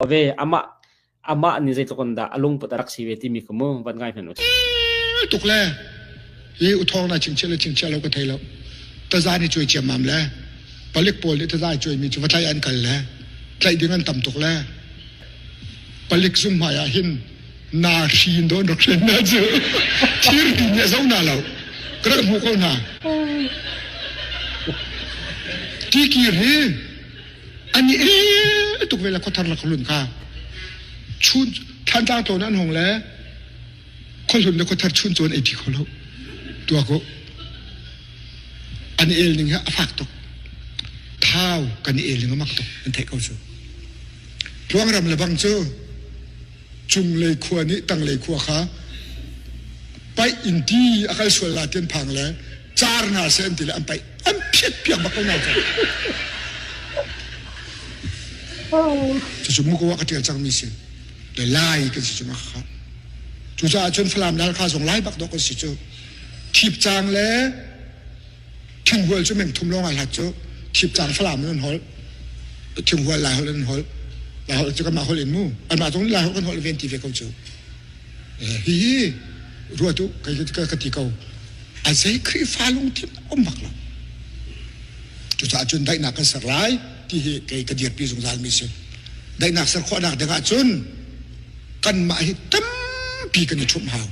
Ove, amah amah nih zeitluk in dah a lungput a rak si ve timi kha mu van ngai hmanh u. tuk le hi uthawng na chingchiah le chingchiah lo ka thei lo taza ni cuai ciam mam le palik pawl nih taza cuai mi cu va tlaih an kal le tlaih ding an tam tuk le palik zum hmai ah hin na hri in don rak hren na cu thir ti nih zo na lo ka rak hmu ko na ti kir hi Ani e tuk vela khothar la kholun kha chun thlantlang to nan hong le kholun le khothar chun chon ei phi kholo tua ko an el ning ha afak tok thau kan el ning amak tok an thei ko chu tluang ram le bang chu cunglei khua nih tanglei khua kha paih in di a kal sual la tian phang le car nga se an ti le an paih an phiat piak bak ko na ka cucu mu ko wa ka tial cang mi sin le lai kan si chung kha cu ca chun falam nal kha zong lai bak dok kan si chu thip chang le thinghual cu mengthum lawng ai hlat cu thipcang falam in an holh thinghual lai holh an holh lai holh cu kanmah holh in mu anmah zong nih lai holh kan holh ven ti ve ko cu hi hi ruat u ka ti ko a zei khrihfa lungthin a um bak lo cucaah cun daihnak kan ser lai ti hi kei ka dirpi zungzal mi si daihnak ser khawhnak ding ah cun kanmah hi tampi kan i ṭhumh hau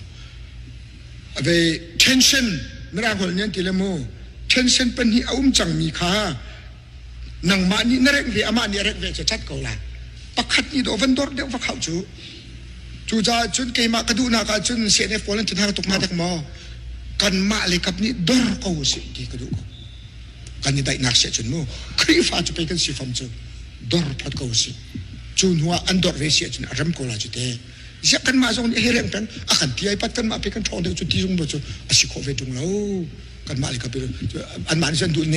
Ve tension mirang holh nih ti le mu tension pahnih a um cangmi kha nangmah nih na rengh ve amah nih a rengh ve cacat ko la pakhat nih daw van dor deuh va khau cu cu caah cun keimah ka duhnak ah cun CNF pawl an thinha tuk ma dek maw kanmah le kap nih dor ko si ti ka duh ko kan i daihnak se cun mu khrihfa cu pei kan si fam cu dor phot ko si cu hnu ah an dor ve si cun a rem ko la cu te ziak kan mah zong nih he reng peng a kan ti ai pat kan mah pe kan thong deuh cu ti zung bu cu a si khawh ve tung lo kan mah le ka pe an man sen du ne